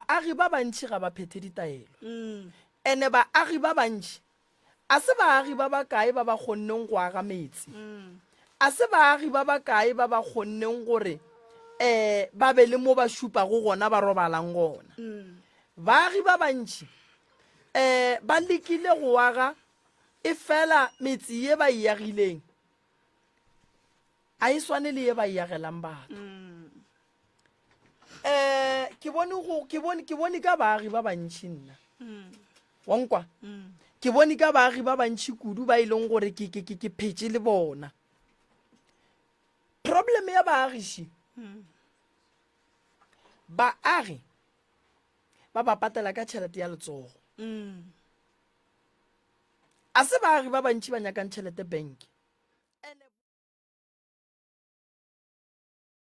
Baagi ba bantši ga ba phethe ditaelo, ene baagi ba bantši a se baagi ba bakae ba ba kgonneng go aga metse, a se baagi ba bakae ba ba kgonneng gore ee ba be le mo ba šupago gona ba robalang gona. Baagi ba bantši ee ba lekile go aga efela metse ye ba e agileng a e swane le ye ba e agelang batho. um ke bone go- ke bone- ke bone ka baagi ba bantšhi nna Mm. wankwa Mm. ke bone ka baagi ba bantšhi kudu ba e leng gore ke- ke ke- ke phetse le bona problem ya baagiši Mm. baagi ba ba patela ka tšhelete ya letsogo Mm. a se baagi ba bantšhi ba nyakang tšhelete bank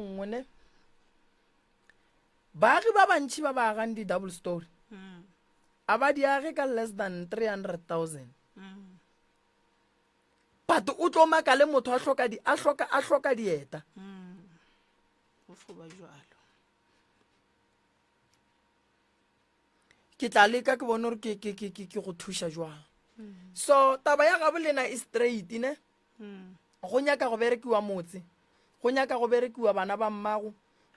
ngone baagi ba bantšhi ba ba agang di-double story mm. a ba di age ka less than 300000 mm. but o tlo maka le motho a hloka di a hloka a hloka dieta mm. o foba jalo ke tla leka ke bone gore ke ke ke ke ke go thuša jwang mm. so taba ya gabolena e straight ne go nyaka go berekiwa motse go nyaka go berekiwa bana ba mmago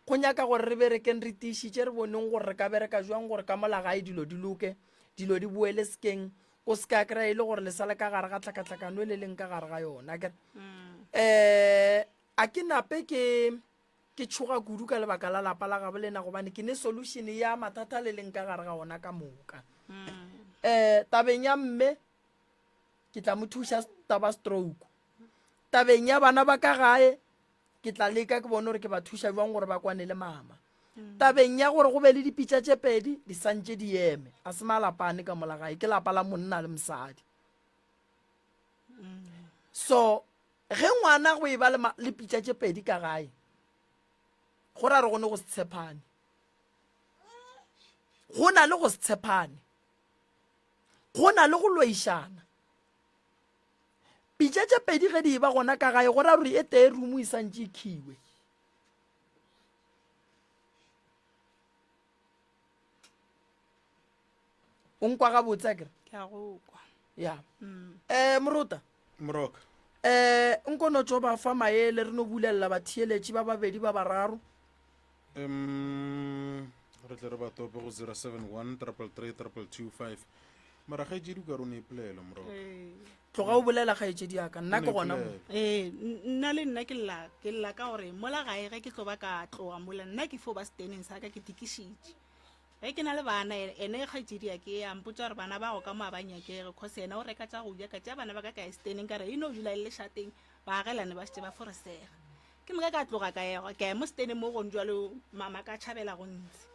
go nyaka gore re berekeng re tiišitše re boneng gore re ka bereka jwang gore ka mola gae dilo di loke dilo di boele sekeng o se ka kry e le gore le sale ka gare ga tlhakatlhakano e le leng ka gare ga yona kere um eh, a ke nape ke ke tshoga kudu ka lebaka la lapa la gabo lena gobane ke ne solution ya mathata le leng ka gare ga ona ka moka um tabeng ya mme ke tla mo thuša taba stroke tabeng ya bana ba ka gae ke tla leka ke bone gore ke ba thuša jwang gore ba kwane le mama mm. tabeng ya gore go be le dipitša tše pedi di santše di eme a se malapane ka mola gae ke lapa la monna le mosadi mm. so ge ngwana go e ba le pitša tše pedi ka gae go ra re gone go se tshepane go na le go se tshepane Go na le go loišana. Pitša tše pedi ge di e ba gona ka gae go ra gore e tee rumo e santše e khiwe. o nkwa gabotse a kere ya um mm. eh, morota moroka um nkono tso ba fa maele re no bulelela batheeletši ba babedi ba bararo um re tle re ba tope go 071 triple 3 triple 25 mara ga ejedi ka rone ipolelo moroka tloga o bolela kgaetšedi yaka nna ke gona mo Ipolele. ee n- nna le nna ke lla ke lla ka gore mola gae ge ke tlo ba ka tloga mola nna ke fo ba seteneng sa ka ke tikišitše Ge ke na le bana, ene kgaetšediake a mpotša gore bana bago ka mo a ba nyakege cos yena o reka tša go ja. Ka tšea bana ba ka ka ya seteneng ka re e no dula e le lešateng, ba agelane ba šetše ba foresega. Ke moka ka tloga ka ya ka ya mo seteneng mo gone bjalo mama ka tšhabela go ntsi.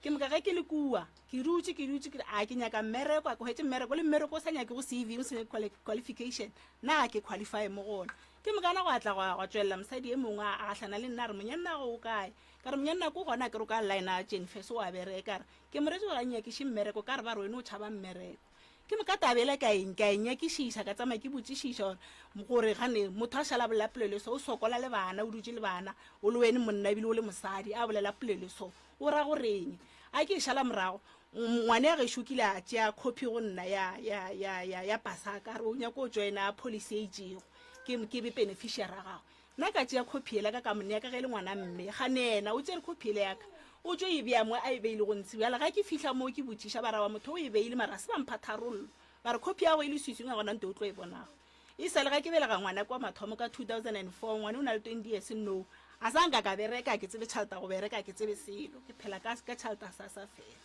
Ke moka ge ke le kua ke dutše ke dutše ke re a ke nyaka mmereko, a ke hwetše mmereko le mmereko o sa nyakego CV, o se nyake quali, qualification, na ga ke qualify mo go ona. Ke mokana gwa tla gwa gwa tšwelela mosadi e mongwe a a gahlana le nna a re, Monyannago o kae? Ka re, Monyann'a ko gona akere o ka line-a Jennifer, se o a bereka? Re, Ke mmoletše gore a nnyakiše mmereko. O ka re, Ba re wena o tšhaba mmereko. Ke moka taba yela ka e, ka e nyakišiša, ka tsamaya ke botšišiša gore, gore gane motho a šala a bolela polelo e so, o sokola le bana, o dutše le bana, o le wene monna ebile o le mosadi, a bolela polelo e so, o ra goreng? A ke e šala morago, ngwane wa gešo o kile a tšea copy go nna ya, ya, ya, ya, ya Pasaka, a re o nyaka go joina policy e itšego, ke, ke be beneficiary ya gagwe. Na ka tšea khophi yela ka ka mo nea ka ge e le ngwana mme ga nena o tsere khophi yela yaka o tšo e bea mo a e beile go ntsi bjala ga ke fihla moo ke botšiša ba raba motho o e beile mara se ba mpha tharollo ba re khophi yago e le switswing a gona nto o tlo e bonago e sale ga ke belega ngwana kwa mathomo ka 2004 ngwane o na le 20 years no a sa nka ka bereka ke tsebe tšhaleta go bereka ke tsebe selo ke phela ka ka tšhaleta sa sa fela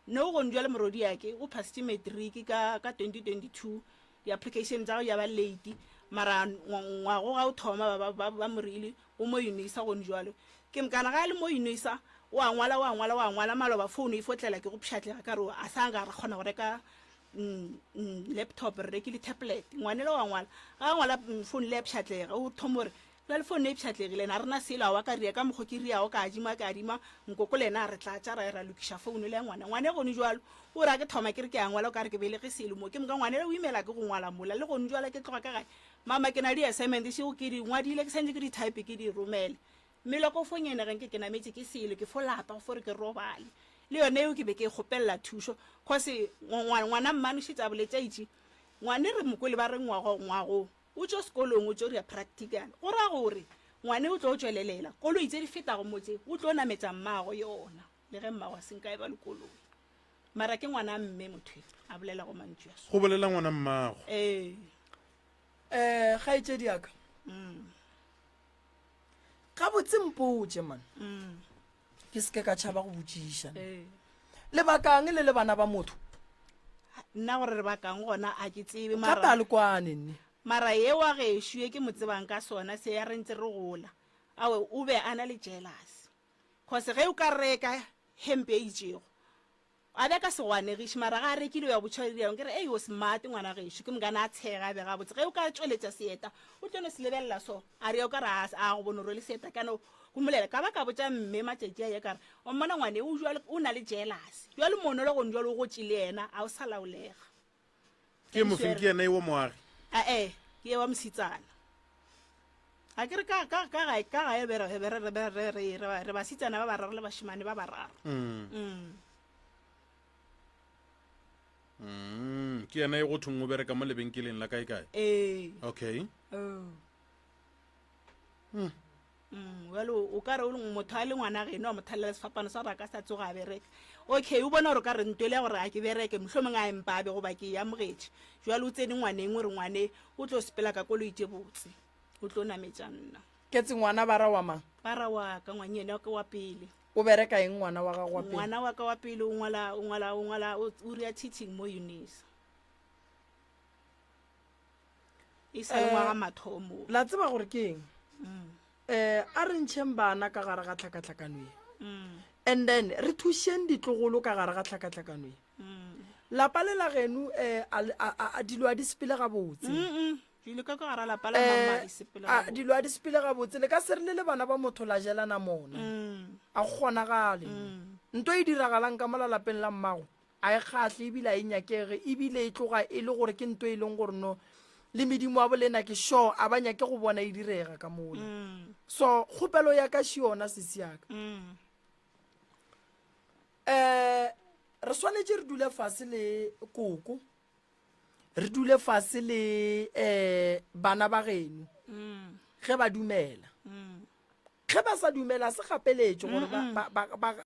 No gong jwale morwediake o phasitše matric ka ka 2022. Di application tsa gagwe ya ba late mara ngwago ga o thoma ba ba ba mo rile o mo unisa gong jwale. Ke mkana ga a le mo unisa o a ngwala o a ngwala o a ngwala maloba phone e fo tlela ke go pshatlega ka re a sa nga ra kgona go reka laptop re rekile tablet ngwanela o a ngwala ga a ngwala phone le ya pshatlega o thoma gore Bjale fo nna e pšhatlegile, na rena selo, awa, ka ria, ka mokgo ke riago, ka adima, ke adima, Nkoko le yena a re tlatša, ra ya ra lokiša founo le ya ngwana. Ngwane gonu jwalo, o ra ke thoma ke re ke a ngwala, o ka re ke belege selo mo. Ke moka ngwane le o imela ke go ngwala mola, le gonu jwale ke tloga ka gae, Mama, ke na le di-assignment šego ke di ngwadile, ke swantše ke di type ke di romele. Mmele wa ka o fo ngenega nke ke nametše ke selo, ke fo lapa go fo re ke robale. Le yona yeo ke be ke e kgopelela thušo, cos ngwa, ngwana mmane o šetše a boletše, a itše, Ngwane re mo kwele ba re ngwago, ngwago. O tšo sekolong, o tšo dira practical. Go ra gore ngwane o tlo tšwelelela. Koloi tse di fetago mo tse, o tlo nametša mmago yona, le ge mmago a se nka e ba le koloi. Mara ke ngwana mme motho yo a bolelago mantšu a Go so. bolela ngwana mmago. Ee. Eh, kgaetšedi ya ka. Umm. gabotse mpotse man mm. ke seke ka tšhaba go botšiša eh. lebakang le le bana ba motho nna gore re bakang gona a ke tsebe gape a le kwane nne mara ye wa gešo ye ke mo tsebang ka sona se ya re ntse re gola awe o be a na le jealous cause ge o ka reka hempe e itšego A be a ka se go anegiše, mara ge a rekile o ya go botšha Ririaong, ke re, Ei, o smart, ngwana gešo. Ke mokane a tshega, a be gabotse. Ge o ka tšweletša seeta, o tlo no se lebelela so. A re, O ka re a, a go bona o rwele seeta ka no? Go mmolela. Ka ba ka botša mme matšatši a ye ka re, O mmona ngwane, o, bjalo, o na le jealous. Bjalo moonolo gone bjalo o gotše le yena, a o sa laolega. ke mofeng ke yena ewo moagi ae ke ewa mositsana ga ke re ka gae re basitsana ba bararo le bashimane ba bararo mm. Mm. Mm, ke yena e go thong o bereka mo lebenkeleng la kae kae ee okay oh. Mm, well o ka re motho a le ngwana geno a mo thalela sefapano sa gore a ka sa tsoga a bereka okay o bona gore ka re nto le ya gore a ke bereke motlho mongwe a empa a be goba ke amogetše jale o tsene ngwaneng o re ngwane o tlo sepela ka kolo itse botse o tlo nametša nna ketse ngwana ba ra wa mang ba ra wa ka ngwanye ene ke wa pele o bereka eng ngwana wa gago wa pele ngwana wa ka wa pele o ngwala o ngwala o ngwala o ria teaching mo unisa e sa le ngwaga eh, mathomo la tseba gore ke eng mm. eh a re ntšheng bana ka gare ga tlhakatlhakano e mm. and then re thušeng ditlogolo ka gare ga tlhakatlhakano e mm. lapa le la genu um eh, dilo a di sepele gabotse eh, dilo a di sepele gabotse le ka se re le le bana ba motho la jelana mona a go kgonagale nto e diragalang ka mola lapeng la mmago A e kgahle ebile a e nyakege, ebile e tloga e le gore ke nto e leng gore no le medimo wa bolena ke sure a ba nyake go bona e direga ka mola. So kgopelo ya ka še yona sesi yaka. Um re swanetše re dule fase le koko re dule fase le um bana ba geno ge ba dumela ge ba sa dumela se gapeletšo gore ba- ba- ba- ba-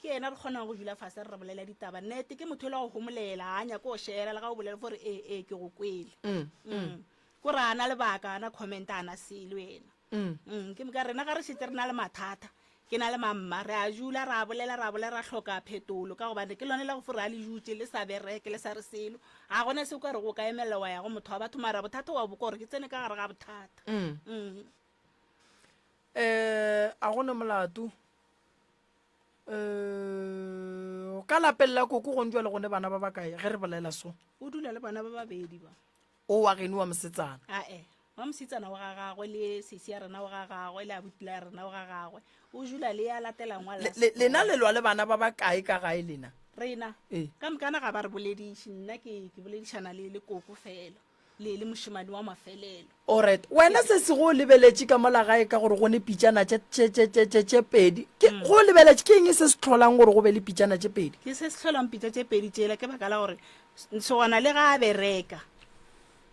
Ke yena re kgonago go dula fase re re bolela ditaba. Nnete, ke motho o la go homolela, ga a nyake go šela le ga o bolela fo re ee, ee, ke go kwele. Mm. Ko re a na lebaka, a na comment, a na selo yena. Mm. Ke moka rena ga re šetse re na le mathata, ke na le mamma, re a dula ra bolela, ra bolela, ra hloka phetolo ka gobane ke lone la go fo re a le dutše le sa bereke, le sa re selo. Ga gona se o ka re go ka emelela wa ya go motho wa batho mara bothata wa bo ka gore ke tsene ka gare ga bothata. Mm. Um, a gone molato um ka lapeng la koko gong jwa le gone bana ba bakae ge re bolela so o dula le bana ba babedi ba o wa geno wa mosetsana ae wa mosetsana wa ga gagwe le sesi ya rena wa ga gagwe le abutla ya rena wa ga gagwe o dula le ya latelang wa Le- le- lena le lwa le bana ba bakae ka gae lena rena Ee. ka mokana ga ba re bolediše nna ke ke boledišana le le koko fela le le mošemane wa mafelelo. Oret, wena se se go lebeletše ka mola gae ka gore go ne pitšana tše pedi. Go o lebeletše ke eng se se tlholang gore go be le pitšana tše pedi? Ke se se tlholang pitša tše pedi tšela ke baka la gore Ntšhogwana le ga a bereka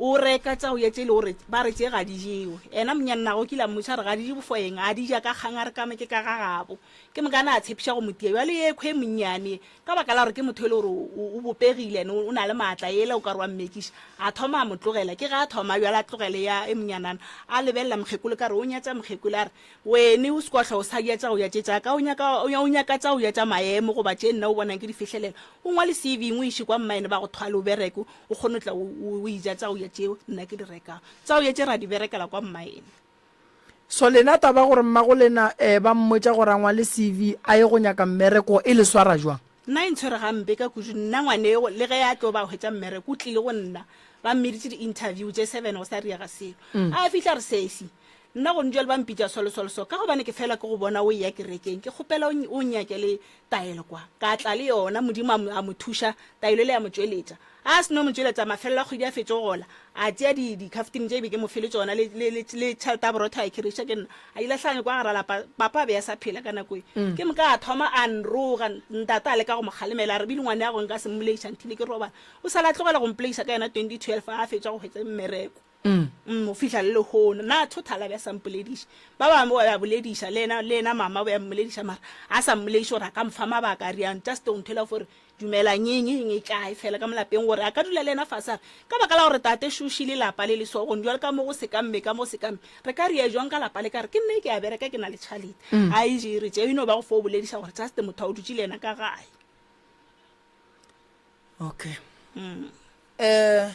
o reka tsa o ya tše le gore ba re tše ga di jewe. Ena monyannagwe kile a mmotša re ga di je bofoeng a di ja ka kgang a re kame ke ka ga gabo. Ke mokana a tshepiša go motia bjale ye khwe monnyane Ka baka la gore ke motho e le gore o bopegile and o na le maatla, yela o ka re wa mmetšiša. A thoma a mo tlogela. Ke ge a thoma bjalo a tlogele ya e monyanana, a lebelela mokgekolo ka re o nyatša mokgekolo. A re, Wene o sekohlo o sa ja tša go ja tše tša ka, o nyaka, o nyaka tša go ja tša maemo goba tše nna o bonang ke di fihlelela. O ngwale CV-ing o e iše kwa mmaene ba go thwale o bereke, o kgone go tla o e ja tša go ja tšeo nna ke di rekago. Tša go ja tše re a di berekela kwa mmaene. So lena taba gore mmago lena eh ba mmotša gore a ngwale CV a ye go nyaka mmereko e le swara jwang? Nna e ntshwere gampe ka kudu nna ngwaneo le ge a tlo ba hwetša mmereko o tlile go nna ba mmeditše di interview tše seven go sa riega selo mm. a fihla re sesi nna go ntšwele ba mpitša solosolso ka gobane ke fela ke go bona o eya kerekeng ke kgopela o nyake le Taelo kwa, ka tla le yona, Modimo a, a mo thuša, taelo yela ya mo tšweletša. Ga a seno mo tšweletša, mafelelo a kgwedi a fetše go gola, a tšea di, dikhaftine tše e be ke mo file tšona, le, le, le, le tšhelete ya borotho a e khereiša ke nna, a di lahlanya kwa gara lapa. Papa a be a sa phela ka nako ye. Ke moka a thoma a nroga, ntate a leka go mo kgalemela, a re, Billy ngwaneago, nka se mmoleiša until ke robala. O sa le a tlogela go mpoleiša ka yena 2012 ga a fetša go hwetša mmereko. mm, go fihla le lehono. Na Thothala be a sa mpolediše? Ba bangwe ba be a bolediša, le yena, le yena mama o be a mmolediša, mara a sa mmolediše gore a ka mfa mabaka a riang, just o nthwela gore dumelang eng eng e tlae fela ka molapeng, gore a ka dula le yena fase a re, ka baka la gore tate šoši le lapa le lesogong, jwale ka mo go se ka mme, ka mo se ka mme, re ka ria jwang ka lapa le ka re ke nna ke a bereka ke na le tšhalete. A e je e re tše e no ba go fo o bolediša gore just motho a o dutše le yena ka gae. Okay. um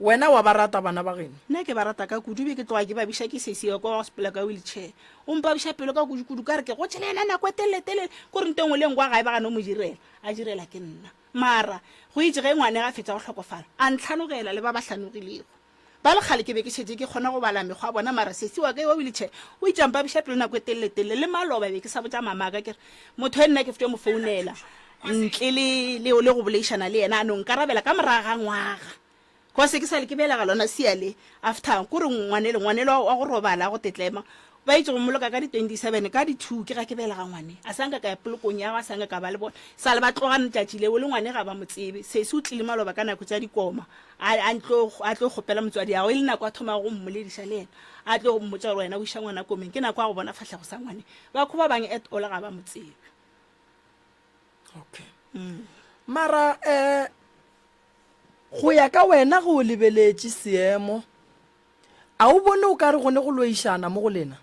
wena wa ba rata bana ba geno nna ke ba rata ka kudu be ke tloga ke babiša ke sesiwa kwa wa sepela ka wheelchair o mpabiša pelo ka kudu kudu ka re ke go tšhela yena nako e teleletelele ko re ntengwe le ngwa gae ba gane o mo direla a direla ke nna mara go itse ge ngwane ga fetsa go tlhokofala a ntlhanogela le ba ba hlanogilego Ba le kgale ke be ke šetše ke kgona go bala mekgwa ya bona, mara sesi wa ka yo wa wheelchair o itše a mpabiša pelo nako e telele-telele. Le maloba be ke sa botša mama wa ka ke re, Motho e nna ke fetše mo founela ntle le, le, le go boleišana le yena, a no nkarabela ka morago ga ngwaga. Cos ke sa le ke belega lona sia le. After, ko re ngwanele, ngwanele wa, wa go robala, wa go tetlema, Ba etše go mmoloka ka di 27 ka di two ke ga ke belega ngwane. A sa nka ka ya polokong ya gwe, a sa nka ka ba le bona. Sa le ba tloga letšatši leo le ngwane ga ba mo tsebe. Sesi o tlile maloba ka nako tša dikoma a, a ntlo, a tlo kgopela motswadi'ago. E le nako a thomago go mmolediša le yena, a tlo go mmotša gore wena o iša ngwana komeng, ke nako ya go bona fahlego sa ngwane. Bakho ba bang at all ga ba mo tsebe. Okay. Mara eh, go ya ka wena ge o lebeletše seemo, A o bone o ka re go ne go loišana mo go lena?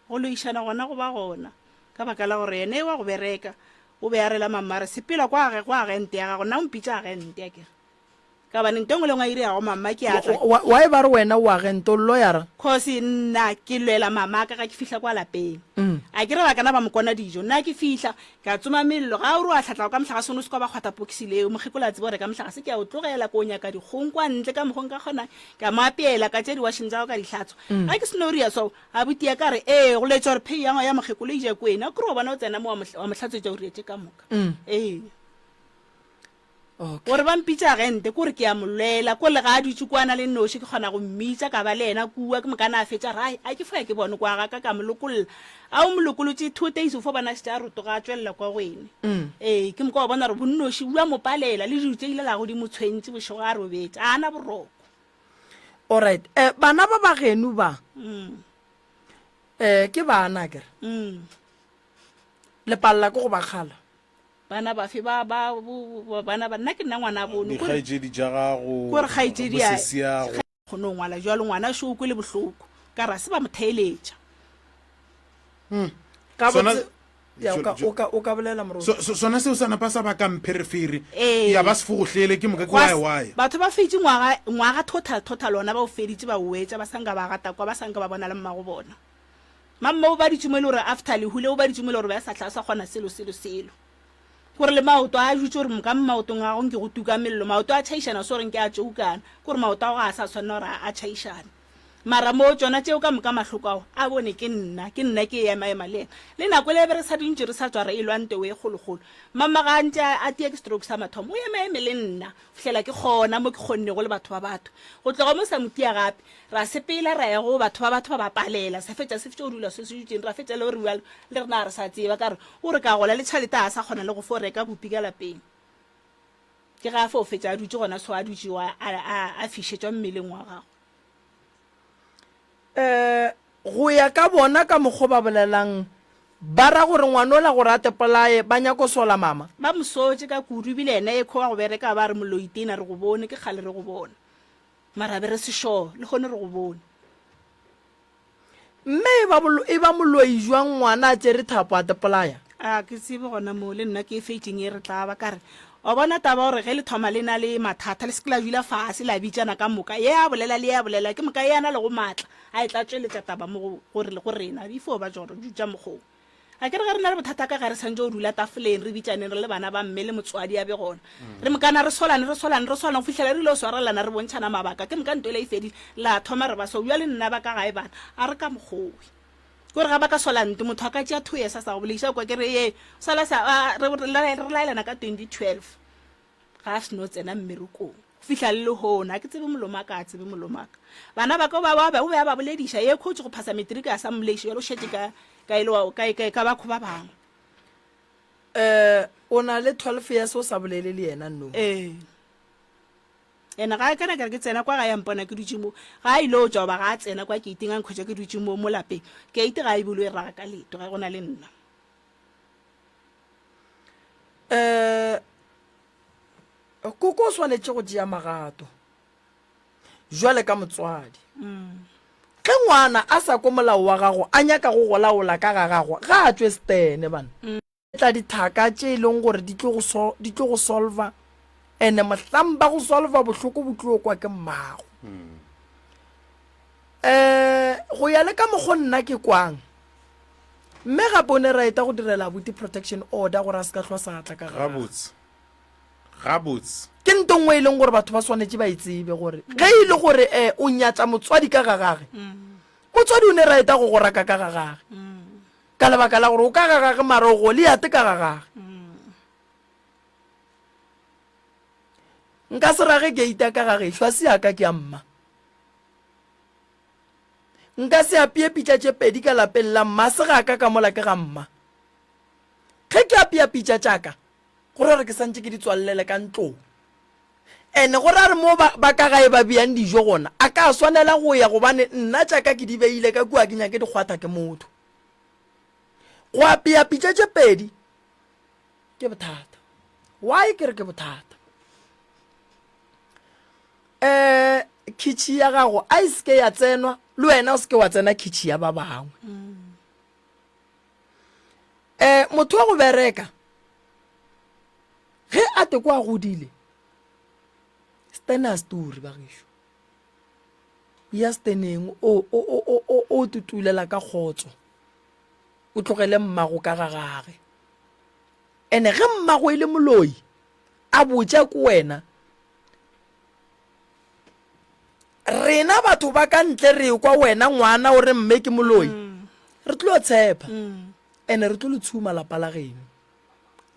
Go loišana gona go ba gona, ka baka la gore yena e wa go bereka, o be a rela Mammare, Sepela kwage go agente ya gago, nna o mpitša agente, a ke re. Ka bane nto e nngwe le e nngwe a e dirago Mamma ke a tla. Why ba re wena o agente, o lloyara? Kgosi, nna ke lwela Mamaka ga ke fihla kwa lapeng. A ke re bakana ba mo kona dijo, nna ke fihla, Ke a tsoma mello. Ga o re o a hlatlao ka mohlagase o no se ka wa ba kgwatha pokisi leo. Mokgekolo a tseba gore ka mohlagase ke ya o tlogela ke o nyaka dikgong kwa ntle ka mokgo nka kgonang. Ke a mo apeela, ka tšea diwasheng tša gagwe ka di hlatswa. Ga ke se no ria swao, abuti ya ka a re, Ee, go laetša gore phei ya ngwa ya mokgekolo e ja kwena. Kore wa bona o tsena mo wa mo hlatswetša o rietše ka moka. Ee. Okay. gore ba mpitša agente kore ke a mo lwela ko lega a dutše kwana le noši ke kgona go mmitša ka ba le yena kua ke mokana a fetša rai a ke foya ke bone kwa gaka ka mo lokolola a o mo lokolotše two days o fo bona šetše a rotoga a tswelela kwa go ene ee ke moka wa bona gore bonnoši bua mo palela le dilo tše ile la go di mo tshwentše bošego a robetše a ana boroko alright eh, bana ba ba genu ba um eh, ke bana kere um lepalela ke go ba kgala bana bafe ba ba bo- bana ba nna ke nna ngwana bono kore dikgaetšedi tša gago kore kgaetšedi a- bosesiago kgone go ngwala jalo ngwana šo o kwele bohloko ka ra se ba mo theeletša ka Sona- botse ya, o ka- Jo- Jo- o ka- o ka bolela moroti So- so- sona seo sa napa sa ba ka mpherefere Ee. ya ba sefogohlele ke moka ke Gwa s- waewaya batho ba feditše ngwaga ngwaga total total ona ba o feditše ba o wetša ba sanka ba gata kwa ba sanka ba bona le mmago bona Mamme o baditše mo e le gore after lehu le o baditše mo e le gore ba sa tlha a sa kgona selo selo selo. Gore le maoto a jutše gore moka maotong a gago nke go tuka mello. Maoto a tšhaišana se gore nke a tšoukana. Gore maoto a go ga a sa tshwanela gore a tšhaišane. Mara mo tšona tšeo ka moka mahloko ao a bone ke nna, ke nna ke ema ema le yena. Le nako ele be re sa dintše re sa tswa re elwa ntewe e kgolokgolo. Mamme ga a ntše a tie ke stroke sa mathomo o ema eme le nna. fihlela ke gona mo ke kgonnego le batho ba batho go tloga mo sa mo tia gape, ra sepela ra ya go batho ba batho ba ba palela, sa fetša se fetša go dula se se dutšeng ra fetša le gore le rena ga re sa tseba ka re o re ka gola le tšhalete ga sa kgona le go fo reka bupi ka lapeng. Ke ge a fo fetša a dutše gona so a dutše a fišetšwa mmeleng wa gagwe. um go ya ka bona ka mokgwa o ba bolelang ba ra gore ngwana o la gore a tepolaye ba nyako sola mama ba mo sotše ka kudu ebile yena e khowa go bereka ba re moloitena re go bone ke kgale re go bona mara be re sešoo le gone re go bone mme e ba e ba moloi jwang ngwana a tsere thapo a tepolaya A ke tsebe gona moo le nna ke feiting e re tla ba ka re, Wa bona taba gore ge le thoma le na le mathata le se ke la dula fase la bitšana ka moka, ye a bolela le ye a bolela, ke moka ye a na lego maatla a e tla tšweletša taba mo go go rena. If o ba tšoro ju tša mokgwa wo. Akere ge re na le bothata ka gare santše o dula tafoleng re bitšaneng re le bana ba mme le motswadi a be gona. Re mokana re swalane re swalane re swalane go fihlela re ile go swarelana re bontšhana mabaka ke moka nto yela e fedile la thoma re ba so bjale nna ba ka gae bana a re ka mokgwa wo. Kore ga ba ka sola ntlo, motho a ka tšea two years a sa go boleiše, a kwa ke re, Ee, sa la sa, a, re, re la- re laelana ka 2012, ga a seno tsena mmerekong. Go fihla le lehono, ga ke tsebe molomo wa ka, ga a tsebe molomo wa ka. Bana ba ka o ba, wa ba, o be a ba bolediša, ye khutšo go phasa matric a sa mmoleiše, bjale o šetše ka, ka e le wa, ka, ka, ka bakho ba bangwe. Um o na le 12 years o sa bolele le yena, no? Ee. And ga kana kare ke tsena kwa ga ya mpona ke dutše mo ga a ile o tšwa goba ga a tsena kwa keiting a nkhwetša ke dutše mo mo lapeng keite ga e bolo e raga ka leto ga go na le nna um koko o swanetše go tšea magato jwale ka motswadi ge ngwana a sa ko molao wa gago a nyaka go golaola ka ga gago ga a tswe stene bana tla dithaka tše e leng gore di tlo go solva ene mohlang ba go solva bohloko bo tlo kwa ke mmago um go ya le ka mokgo nna ke kwang mme gape o ne ra eta go direla abuti protection order gore a se ka tlhwa sa tla ka gabotse gabotse ke nto nngwe e leng gore batho ba swanetse ba e tsebe gore ge e le gore um o nyatsa motswadi ka ga gage mm. motswadi o ne ra eta go goraka ka ga gage mm. ka lebaka la gore o ka ga gage mara o goliate ka ga gage nka se rage geita ka ga gešo a se yaka ke a mma nka se apeye pitša tše pedi ka lapeng la mma se ga ka ka mola ke ga mma ge ke apeya pitša tšaka go ra gore ke santse ke di tswalele ka ntlong And go ra re mo ba, ba ka gae ba beyang dijo gona, a ka swanela go ya gobane nna tša ka ke di beile ka kua ke nyake di kgwatha ke motho. Go apeya pitša tše pedi ke bothata. Why ke re ke bothata? Eh khitšhi ya gago a e seke ya tsenwa le wena o seke wa tsena khitšhi ya ba bangwe. um motho wa go bereka ge a te kwa godile stena story ba gešo ya steneng o tutulela ka kgotso o tlogele mmago ka ga gage ene ge mmago e le moloi a botša ko wena Rena batho ba ka ntle re kwa wena ngwana o re mme ke moloi. Re tlo tshepa. Ene re tlo le tshuma lapa la geno.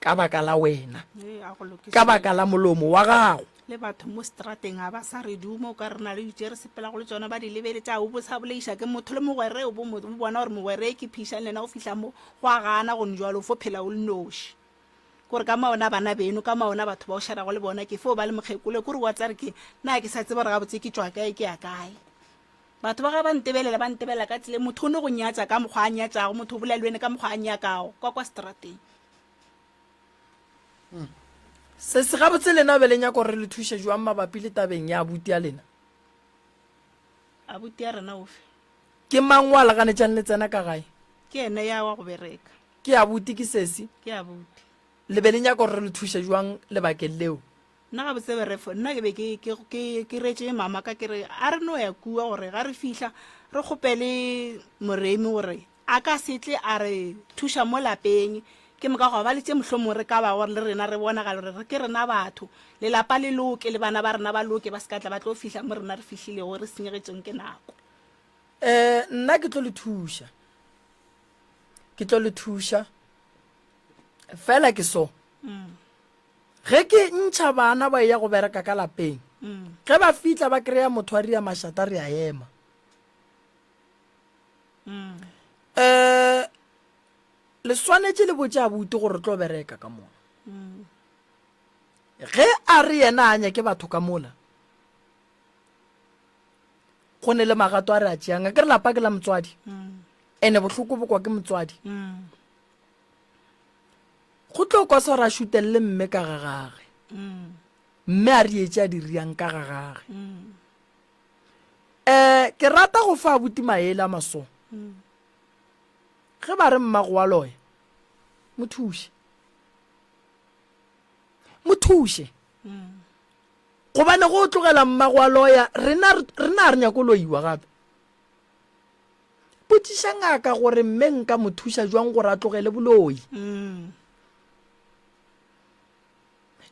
Ka baka la wena. Ka baka la molomo wa gago. le batho mo strateng ga ba sa re duma o ka re na le ditše re sepelago le tsona ba di lebele tsa o bosa boleiša ke motho le mogwere o bo bona gore mogwere ke phišang le yena go fihla mo go a gana gone jalo fo phela o le noši kore ka maona bana beno ka maona batho ba o šarago le bona ke fo ba le mokgekolo kore wa tsare ke na ke sa tseba gore gabotse ke tšwa kae ke ya kae batho ba ga ba ntebelela ba ntebelela ka tsele motho o ne go nyatsa ka mokgwa a nyatsago motho o bolela le wene ka mokgwa a nyakago kwa kwa strateng hmm. se se gabotse lena be le nyako gore le thuše jwang mabapi le tabeng ya abuti ya lena abuti ya rena ofe ke mang wa laganetsang le tsena ka gae ke ene ya wa go bereka Ke abuti, ke sesi. Ke abuti. Le be le nyaka gore re le thuše jwang lebakeng leo? Nna gabotse berefo, nna ke be ke, ke, ke, ke retše mama ka ke re a re no ya kua gore ga re fihla re kgopele Moremi gore a ka se tle a re thuša mo lapeng ke moka gwa ba le tše mohlomong re ka ba gore le rena re bonagala gore re ke rena batho lelapa le loke le bana ba rena ba loke ba se ka tla ba tlo fihla mo rena re fihlilego re senyegetšeng ke nako um nna ke tlo le thuša ke tlo le thuša fela ke so mm. ge ke ntšha bana ba ya go bereka ka lapeng mm. ge ba fitla ba kry-a motho a ria mašata re a ema um le swanetše le botse a bute gore re tlo bereka ka mona ge a re yena a nyake batho ka mola go ne le magato a re a tšeang a ke re lapa ke la motswadi ene bohloko bokwa ke motswadi go tlo kwa swara a šutelele mme ka ga gage mme a re etse a di riang ka ga gage um ke rata go fa abuti maele a masong ge ba re mmago wa loya mo thuse mo thuse Gobane go tlogela mmago a loya, rena re na re nyako loiwa gape. Botšiša ngaka gore mme nka mo thuša jwang gore a tlogele boloi. Mm.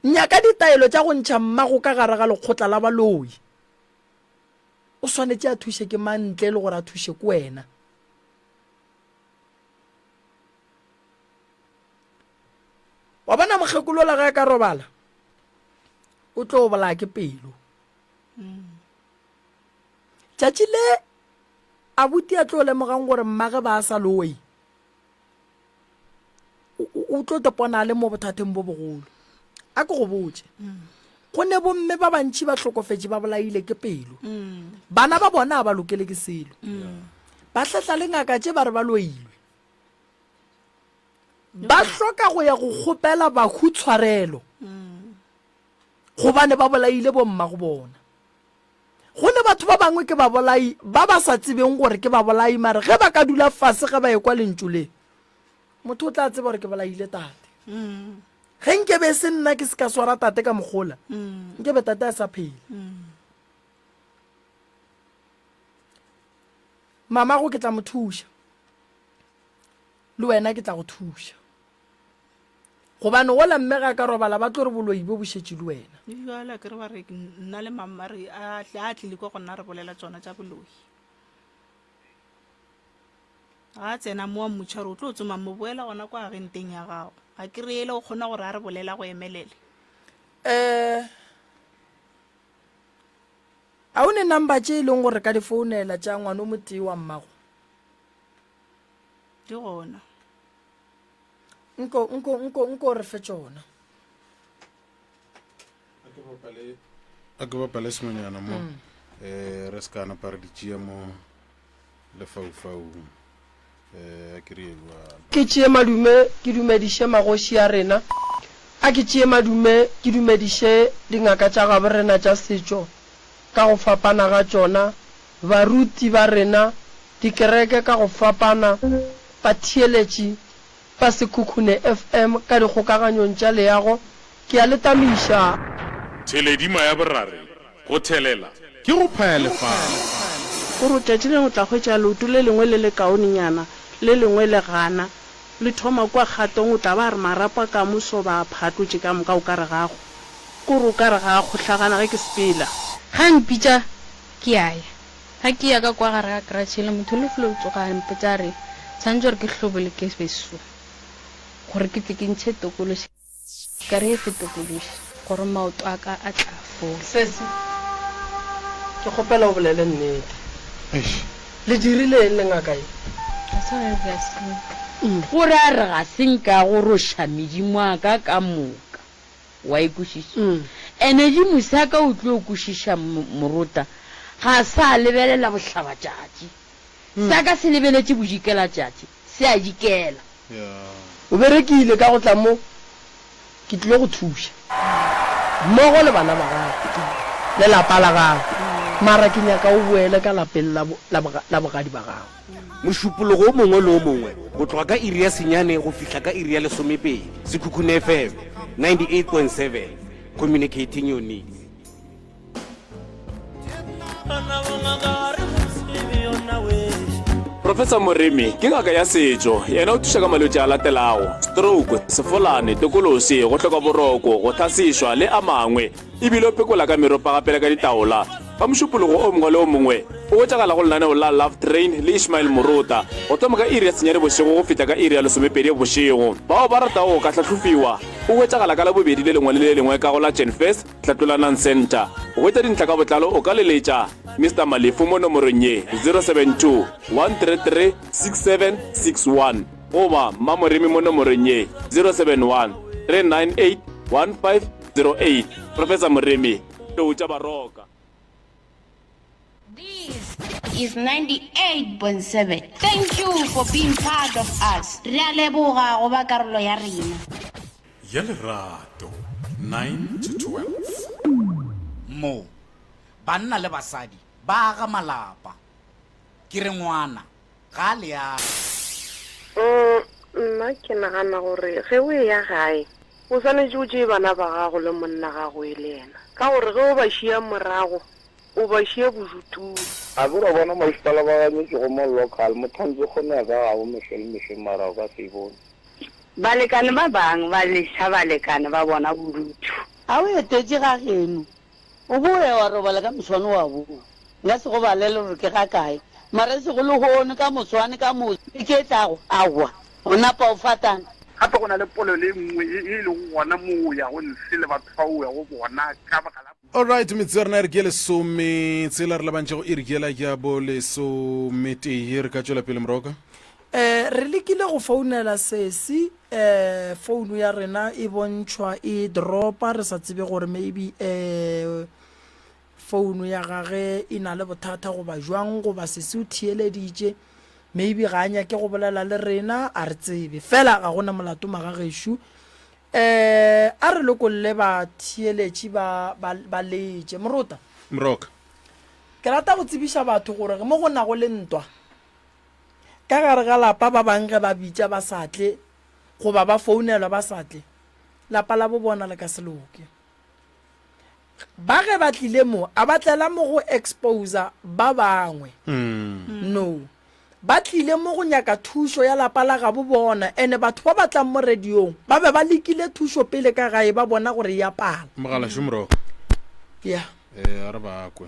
Nyaka ditaelo tša go ntšha mmago ka gare ga lekgotla la baloi. O swanetše a thuše ke mang ntle le gore a thuše ke wena. wa bona mokgekolola ge a ka robala o tlo bolaya ke pelo tšatši le a buti a tlo lemogang gore mmage ba a sa lowei o tlo tepona a le mo bothateng bo bogolo a ke go botse go ne bomme ba bantšhi ba hlokofetše ba bolaile ke pelo bana ba bona a ba lokele ke selo ba hlatla le ngaka tše ba re ba loilwe ba hloka go ya go kgopela bahu tshwarelo gobane ba bolaile bomma go bona go ne batho ba bangwe ke babolai ba ba sa tsebeng gore ke babolai mare ge ba ka dula fase ge ba ekwa lentšu le motho o tla tseba gore ke bolaile tate ge nke be se nna ke se ka swara tate ka mogola nke be tate a sa phele mamago ke tla mo thuša le wena ke tla go thuša gobane ola mme ga ka robala ba tlo re boloi bo bošetše le wena jala ke re ba re nna le mamma re a tle a tlile kwa go nna re bolela tsona tša boloi ga tsena mo wa mmotšha gore o tlo o tsomang mo boela gona kwa agenteng ya gago ga ke re ele o kgona gore a re bolela go emelele um a o ne number tše e leng gore ka di founela tša ngwane o motee wa mmago di gona nko nko nko nko re fe tšona a ke bapale sengwenyana mo um re se ka napa re di tšea mo lefaufaung um eh, a ke re ebjalo ke tšee madume ke dumediše magoši a rena a ke tšee madume ke dumediše dingaka tša gaborena tša setšo ka go fapana ga tšona Baruti ba rena, dikereke ka go fapana, batheeletši ba Sekhukhune FM ka dikgokaganyong tša leago, ke a le tamiša. Theledima ya borare, go thelela ke go phaya lefase. O re, Tšatši lengwe o tla hwetša leoto le lengwe le lekaonenyana, le lengwe le gana, le thoma kua kgatong, o tla ba a re marapo a kamoso ba a phatlotše ka moka, o ka re ga a go, ke o re o ka re ga a kgohlagana ge ke sepela. Ge a mpitša, Ke a ya. Ga ke ya ka kwa gare ga karatšhe yela, motho yo lefula o tsoga a mpotša a re, Tshwanetše gore ke hlobole ke be so, gore ke tle ke ntšhe tokološi, ka re, Efe tokološi? Gore maoto a ka a tla fola. Sesi, ke kgopela o bolele nnete. Eish, le dirile eng le ngaka ye? Ga se gage ga se nka. Gore a re ga se nka go roša medimo a ka ka moka. Wa e kwešiša? Ene di mosaka o tlo kwešiša morota ga sa lebelela bohlabatšatši. Saka se lebeletše bodikelatšatši, se a dikela. O berekile ka go tla mo, ke tlilo go thuša. Mmogo le bana ba gago, lelapa la gago. Mara ke nyaka o boele ka lapeng la, la, la bogadi ba gago. Mošupologo o mongwe le o mongwe go tloga ka iri ya senyane go fihla ka iri ya lesomepedi. Sekhukhune FM 98.7 Communicating your needs. Professor Moremi ke ngaka ya setšo, yena o thuša ka malwetši a latelago, stroke, sefolane, tokološi, go hloka boroko, go tlhasišwa le a mangwe. e bile o pekola ka meropa gape le ka ditaola. Ka mošupologo o mongwe le o mongwe, o hwetšagala go lenaneo la Love Train le Ishmael Murota, go thoma ka iri ya senyane bošego go fihla ka iri ya lesomepedi bošego. Bao ba ratago go ka hlahlofiwa, o hwetšagala ka Labobedi le lengwe le le lengwe ka go la Chenfez, Tlhatlolanang Centre. Go hwetša dintlha ka botlalo o ka leletša Mister Malefu mo nomorong ye, 072-133-6761, goba Mmamoremi mo nomorong ye, 071-398-15. 08 Professor Moremi Toutša Baroka. This is 98.7. Thank you for being part of us. Re a leboga go ba karolo ya rena. Ya lerato 9 to 12. Mo banna le basadi ba aga malapa. Ke re ngwana. ga a le age. Umm, nna ke nagana gore ge o eya gae, o swanetše o tšee bana ba gago le monna gago e le yena, ka gore ge o ba šiya morago, o ba šiya bojutung. A ke wa bona masepala ba ganyetše go mo local, Mothanzi kgono ya ka ga o mehlo le mehlo mara o ka se e bone. Balekane ba bang ba leša balekane ba bona bodutu. A o etetše ga geno, O boe wa robala ka moswane wa boa. Nka se go balele gore ke ga kae, mara e sego lehono, ka moswane, ka moso, beke e tlago, aowa, o napa o fatana. Gape go na le polelo e nngwe ye e lego gona moo o yago ntle le batho bao o yago bona ka baka la. Alright, metsotso ya rena e re ke ye lesometshela, re labantše go iri yela ya bo lesometee. Re ka tšwela pele, Moroka. Eh, re lekile go founela sesi, eh, founu ya rena e bontšhwa e dropa, re sa tsebe gore maybe eh, founu ya gage e na le bothata goba jwang, goba sesi o theeleditše, maybe ga a nyake go bolela le rena, a re tsebe. Fela ga gona molato magagešo. Eh, a re lokolle batheeletši ba, ba, ba letše. Morota, Mroka. ke rata go tsebiša batho gore mo go nago le ntwa, Ka gare ga lapa ba bang ge ba bitša ba sa tle goba ba founelwa ba sa tle, lapa la bo bona le ka se loke. Ba ge ba tlile mo a ba tlela mo go exposa ba bangwe? Mm. No. Ba tlile mo go nyaka thušo ya lapa la gabo bona ene batho ba ba tlang mo radiong ba be ba lekile thušo pele ka gae ba bona gore e a pala. Mogala šomro. Yeah. Eh, a re ba kwe.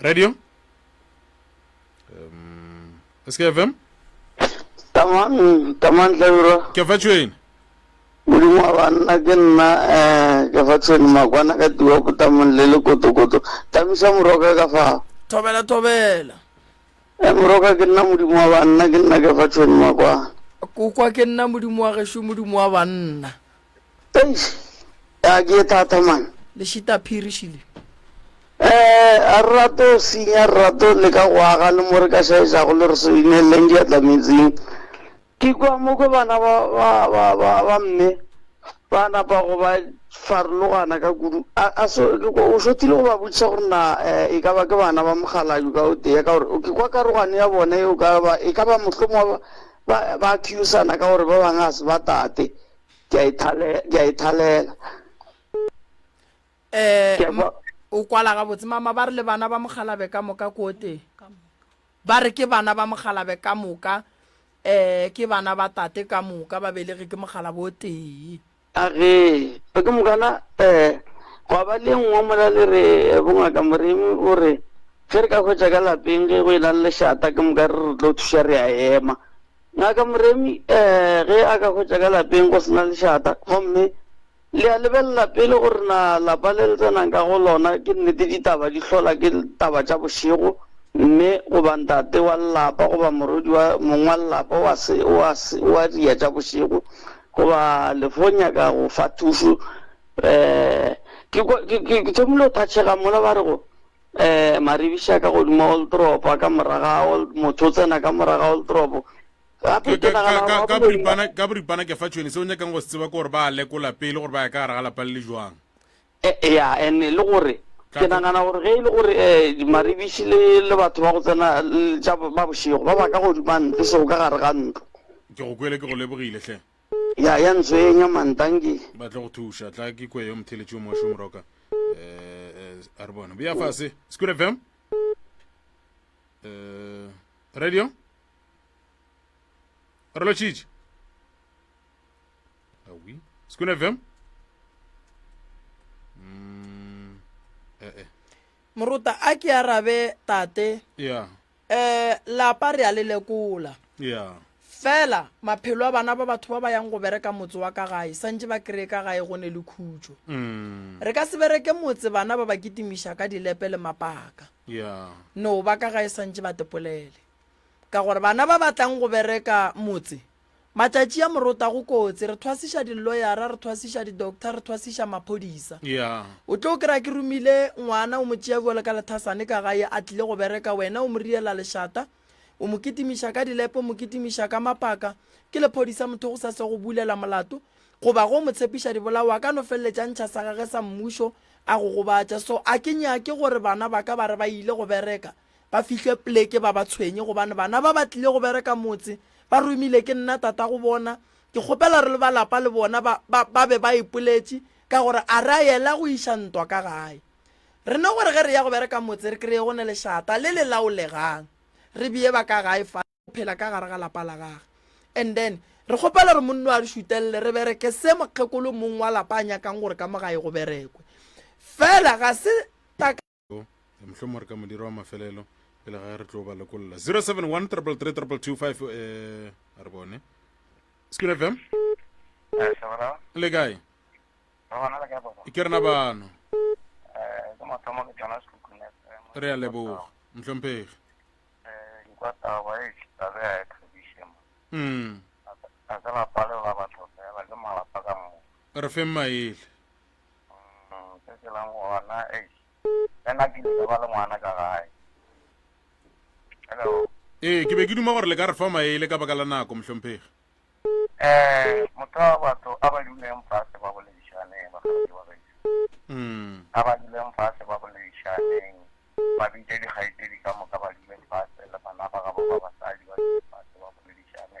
radio um sk fm tamang tlabirwa ke fa tšhwene modimo wa banna ke nna um ke fa tshwene makwana ka tiwa potamong le le kotokoto tamisa moroka ka fao thobela thobela e eh, moroka ke nna modimo wa banna ke nna ke fa tshwene makwana kokwa ke nna modimo wa gešu modimo wa banna Eish, ya ke e thata man. Lešitaphiri šile. Eh, a re rate go sinya, re rate go leka go aga le mo re ka šaetšago le re se ineleleng diatla metsing. Ke kua mo kwe bana ba, ba, ba, ba, ba mme ba napa go ba farologana ka kudu. A, a so, ke kwa, o šothile go ba botšiša gore na eh, e ka ba ke bana ba mokgalaju ka o tee, ka gore ke kwa karogano ya bone yeo ka ba, e ka ba mohlomongwe ba, ba, ba accusana ka gore ba bangwe ga se ba tate. ke a ithalela ke a ithalela eh Ke a kwa- o kwala ga botse mama ba re le bana ba mogalabe ka moka ko teng ba re ke bana ba mogalabe ka moka eh ke bana ba tate ka moka ba belege ke mogalabe o tee a re ba ke mokana um gwa ba le nngwe mola le re eh, bongaka moremi o re ge re ka hwetša ka lapeng ge go e na le lešata ke moka re re tlo thuša re a ema Ngaka Moremi ge a ka hwetša ka lapeng go se na lešata gomme le a lebelela pele gore na lapa le le tsenang ka go lona ke nnete ditaba di hlola ke taba tša bošego, mme goba ntate wa lelapa goba morwedi wa mong wa lelapa o a, o a, o a dia tša bošego goba le fo nyaka go fa thušo. Ke, ke, ke thomile go thatšhega mola ba re go, Maribiša ka godimo ga Oldrop, a ka mora ga Old, motho o tsena ka mora ga Oldrop. Gape ke nagana gore ka- ka- ka Maboloi- boripana ka boripana ke fa tšhweni se o nyakang go se tseba ke gore ba a lekola pele gore ba ya ka gare ga lapa le le jwang E- e, ya and e le gore Tla ke tlo- nagana gore ge e le gore um maribiši le le batho ba go tsena le tša bo- ba bošego ba ba ka godima ntlo seo ka gare ga ntlo ke go kwele ke go lebogile hle Ya, ya ntswenya man, dankie. Ba tlo go thuša, tla ke kwe yo motheletši o mošo moroka. Eh, eh, a re bona. Bea fase, School FM. Eh, radio. Re lo tšitše. Awi, School FM. Mm, eh, eh. Moruta, a ke arabe tate. Ya. Yeah. um lapa re a le lekola fela maphelo a bana ba batho ba ba yang go bereka motse wa ka gae santse ba kry-e ka gae go ne le khutso mm. re ka se bereke motse bana ba ba kitimiša ka dilepe le mapaka no ba ka gae santse ba tepolele ka gore bana ba batlang go bereka motse Matšatši a morota go kotsi, re thwasiša diloyara, re thwasiša di-doctor, re thwasiša maphodisa. O tlo kry-a ke romile ngwana, o mo tšea bjalo ka lethasane ka gae, a tlile go bereka, wena o mo riela lešata, o mo kitimiša ka dilepe, o mo kitimiša ka mapaka, ke lephodisa motho go sa se go bulela molato, goba ge o mo tshepiša dibolao, a ka no feleletša a ntšha sa gage sa mmušo a go gobatša. So a ke nyake gore bana ba ka ba re ba ile go bereka, ba fihle pleke ba ba tshwenye gobane bana ba ba tlile go bereka motse ba romile ke nna tata go bona ke kgopela re le ba lapa le bona ba, ba, ba be ba ipoletše ka gore a re a yela go iša ntwa ka gae re ne gore ge re ya go bereka motse re kreye go ne lešata le le laolegang re beye ba ka gae fa phela ka gare ga lapa la gage and then re kgopela gore monno a re šutelele re bereke se mokgekolo mong wa lapa a nyakang gore ka mo gae go berekwe fela ga se mohlomong re ka modiro wa mafelelo pele ga re tlo ba lokolla 071 333 eh a re bone skul fm eh, le kae ke rena bano eh, re a leboga ntlhomphegi mm. re feng maele Se tshelang gona eish le nna ke ile ka ba le ngwana ka gae. Hello. Ee, ke be ke duma gore le ka re fa maele ka baka la nako, mohlomphegi. Eh, motho batho a ba duleng fase ba boledišane ba kgaetšedi ba gaešo. Mm. A ba duleng fase ba boledišaneng. Ba bitše dikgaetšedi ka moka ba dule fase le bana ba gabo ba basadi ba dule fase ba boledišane.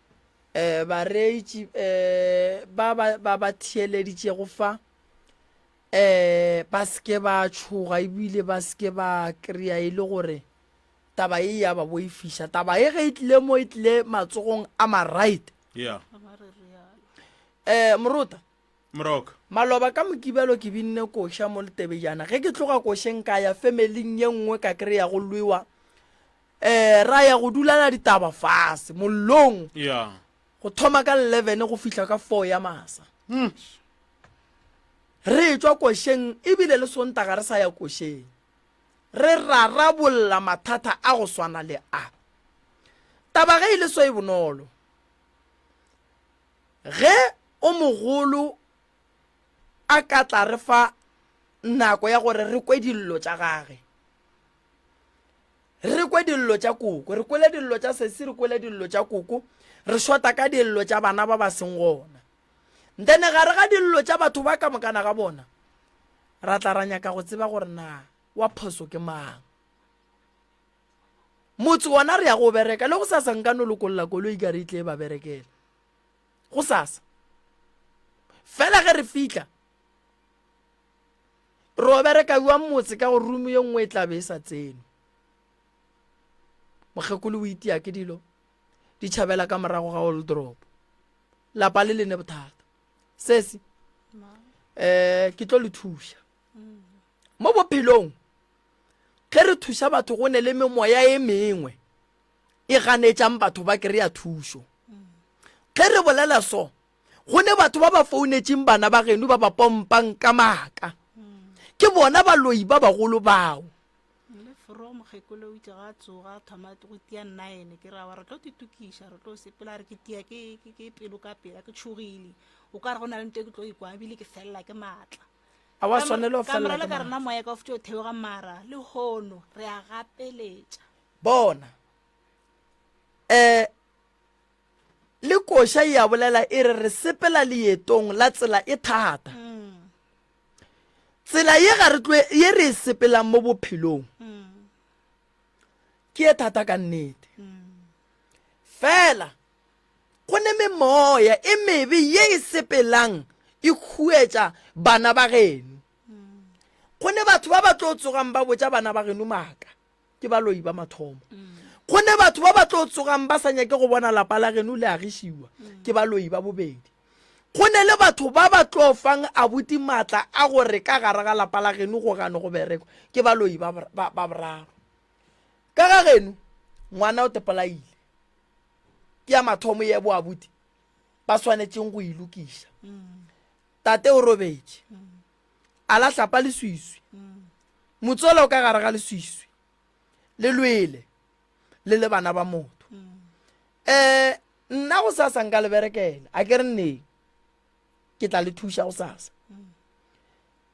um bareetši um ba ba ba theeleditšego fa um ba seke ba tšhoga ebile ba seke ba kry-a e le gore taba e ya ba boifiša taba e ge e tlile mo e tlile matsogong a maright yeah um morota moroka maloba ka mokibelo ke binne koša mo letebejana ge ke tloga košeng ka ya familing ye nngwe ka kry-a go lwewa Ee, ra ya go dulana ditaba fase mollong Ya. go thoma ka 11 go fihla ka 4 ya masa. Hmm. Re tšwa košeng ebile le Sontaga re sa ya košeng. Re rarabolla mathata a go swana le a. Taba ge e le so e bonolo. Ge o mogolo a ka tla re fa nako ya gore re kwe dillo tša gage. re kwe dillo tša koko re kwele dillo tša sesi re kwele dillo tša koko re shota ka dillo tša bana ba ba seng gona nthene gare ga dillo tša batho ba ka mokana ga bona ra tla ra nyaka go tseba gore na wa phoso ke mang motse ona re ya go bereka le go sasa nka no lokolola koloi ka re itle e ba berekela go sasa fela ge re fitlha Re o bereka bjang motse ka go rumu ye nngwe e tla be e sa tsenwe. Mokgekolo o itia ke dilo di tšhabela ka morago ga oldrop lapa le lene bothata sesi eh ke tlo le thuša mm. mo bophelong ge re thuša batho go ne le memoya e mengwe e ganetšang batho ba kry-a thušo mm. ge re bolela so go ne batho ba ba founetšeng bana ba geno ba ba pompang ka maaka ke bona baloi ba bagolo bao le foro mokgekolo o itse ga tsoga thoma go tia nine ke ra wa re tlo titokiša re tlo sepela re ke tia ke pelo ka pela ke tšhogile o ka re go na le nto ke tlo ikwa ebile ke felela ke maatla a wa swanela felela ka rena moya ka futse o theoga mara le hono re a gapeletša bona eh le koša e a bolela e re re sepela leetong la tsela e thata tsela ye ga re tloe ye re e sepelang mo bophelong ke e thata ka nnete fela go ne memoya e mebe ye e sepelang e khuetša bana ba geno go ne batho ba ba tlo tsogang ba botša bana ba geno maaka ke baloi ba mathomo gonne batho ba ba tlo tsogang ba sa nyake go bona lapa la geno le agišiwa ke baloi ba bobedi go ne le batho ba ba tlo fang abuti maatla a gore ka gare ga lapa la geno go gano go berekwa ke baloi ba boraro ka ga geno ngwana o tepolaile ke ya mathomo ye bo abuti ba swanetseng go ilokiša tate o robetše a la hlapa leswiswi motsola o ka gare ga leswiswi le lwele le le bana ba motho um nna go sasa nka le berekela a ke re nneng ke tla le thuša go sasa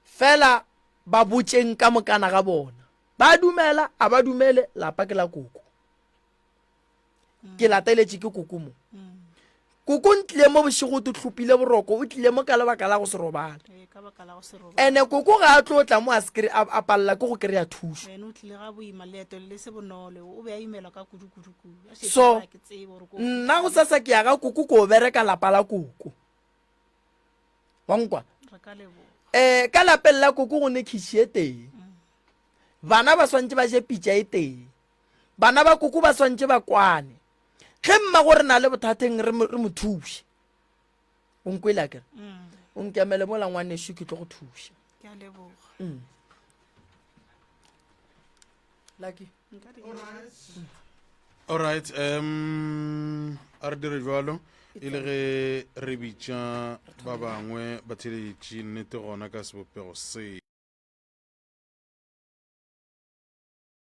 fela ba botšeng ka mokana ga bona ba dumela a ba dumele lapa ke la koko ke lateletše ke koko mo koko ntlile mo bošego te tlhopile boroko o tlile mo ka lebaka la go se robale ene koko ga a tlo tla mo a sekry a palela ke go kry-a thuso so nna go sasa ke ya ga koko ko bereka lapa la koko wankwa um ka lapeng la koko go ne khiši e teng bana ba swantse ba je pitša e teng bana ba koko ba swantše ba kwane ge mma go re na le bothateng re mo thuše o nkwele akere mm. o nkemele mo langwane sho ke tlo go thuša mm. lucky all right um a re dire jalo e le ge re bitša ba bangwe batheletši nnete gona ka sebopego se